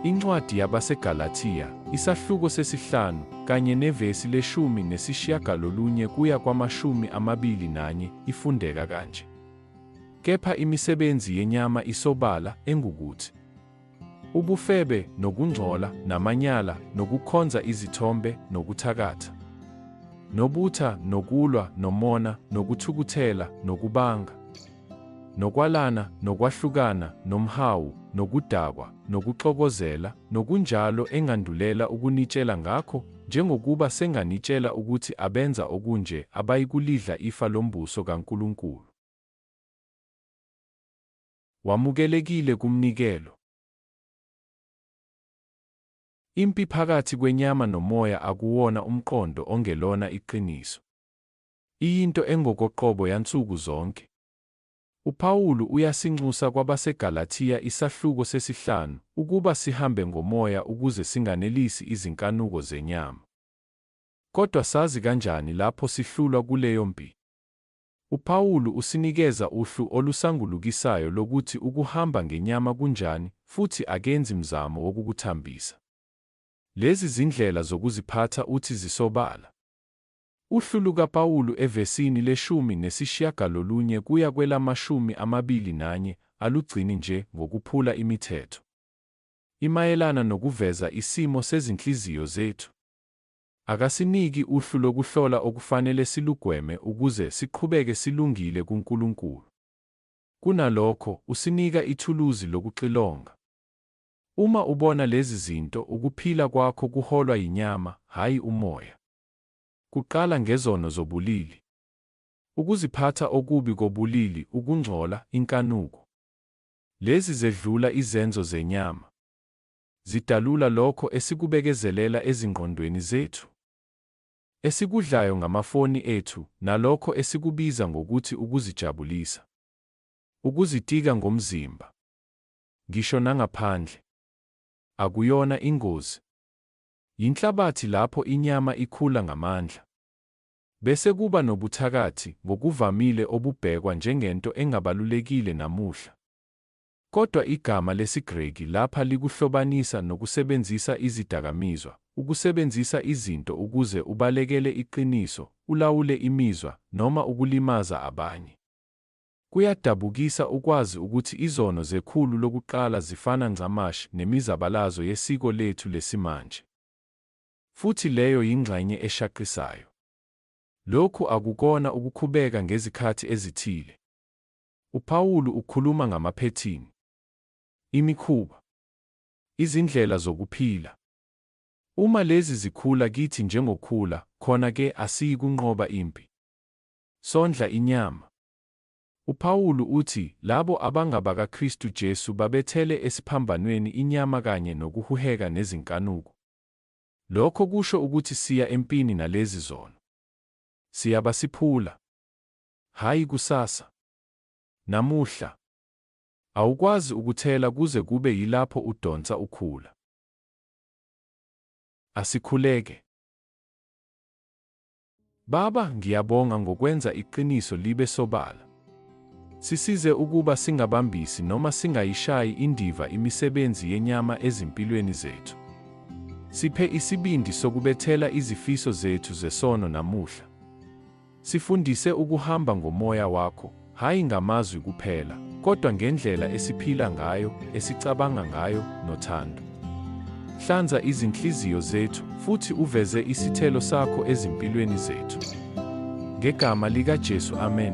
Incwadi yabaseGalathiya, isahluko sesihlanu, kanye nevesi leshumi nesishiyagalolunye kuya kwamashumi amabili nanye, ifundeka kanje. Kepha imisebenzi yenyama isobala, engukuthi, Ubufebe, nokungcola, namanyala, nokukhonza izithombe, nokuthakatha, nobutha, nokulwa, nomona, nokuthukuthela, nokubanga, nokwalana, nokwahlukana, nomhawu, nokudakwa, nokuxokozela, nokunjalo engandulela ukunitshela ngakho, njengokuba senganitshela ukuthi abenza okunje abayikulidla ifa lombuso kaNkulunkulu. Wamukelekile kumnikelo. Impi phakathi kwenyama nomoya akuwona umqondo ongelona iqiniso. Iyinto engokoqobo yansuku zonke. UPawulu uyasinxusa kwabaseGalathiya isahluko sesihlanu ukuba sihambe ngomoya ukuze singanelisi izinkanuko zenyama. Kodwa sazi kanjani lapho sihlulwa kuleyo mpi? UPawulu usinikeza uhlu olusangulukisayo lokuthi ukuhamba ngenyama kunjani futhi akenzi mzamo wokukuthambisa. Lezi zindlela zokuziphatha uthi zisobala. Uhlu lukaPawulu evesini leshumi nesishiyagalolunye kuya kwelamashumi amabili nanye alugcini nje ngokuphula imithetho. Imayelana nokuveza isimo sezinhliziyo zethu. Akasiniki uhlu lokuhlola okufanele silugweme ukuze siqhubeke silungile kuNkulunkulu. Kunalokho, usinika ithuluzi lokuxilonga. Uma ubona lezi zinto, ukuphila kwakho kuholwa yinyama, hhayi umoya. Kuqala ngezono zobulili. Ukuziphatha okubi kobulili, ukungcola, inkanuko. Lezi zedlula izenzo zenyama. zidalula lokho esikubekezelela ezingqondweni zethu, esikudlayo ngamafoni ethu, nalokho esikubiza ngokuthi ukuzijabulisa, ukuzitika ngomzimba, ngisho nangaphandle. Akuyona ingozi. Yinhlabathi lapho inyama ikhula ngamandla. Bese kuba nobuthakathi, ngokuvamile obubhekwa njengento engabalulekile namuhla. Kodwa igama lesiGreki lapha likuhlobanisa nokusebenzisa izidakamizwa, ukusebenzisa izinto ukuze ubalekele iqiniso, ulawule imizwa, noma ukulimaza abanye. Kuyadabukisa ukwazi ukuthi izono zekhulu lokuqala zifana ncamashi nemizabalazo yesiko lethu lesimanje. Futhi leyo yingxenye eshaqisayo. Lokhu akukona ukukhubeka ngezikhathi ezithile. UPawulu ukhuluma ngamaphethini, imikhuba, izindlela zokuphila. Uma lezi zikhula kithi njengokhula, khona-ke asiyikunqoba impi. Sondla inyama. UPawulu uthi labo abangabakaKristu Jesu babethele esiphambanweni inyama kanye nokuhuheka nezinkanuko. Lokho kusho ukuthi siya empini nalezi zono. Siyabasiphula. Hhayi kusasa. Namuhla. Awukwazi ukuthela kuze kube yilapho udonsa ukhula. Asikhuleke. Baba, ngiyabonga ngokwenza iqiniso libe sobala. Sisize ukuba singabambisi noma singayishayi indiva imisebenzi yenyama ezimpilweni zethu. Siphe isibindi sokubethela izifiso zethu zesono namuhla. Sifundise ukuhamba ngomoya wakho, hhayi ngamazwi kuphela, kodwa ngendlela esiphila ngayo, esicabanga ngayo, nothando. Hlanza izinhliziyo zethu, futhi uveze isithelo sakho ezimpilweni zethu. Ngegama likaJesu, amen.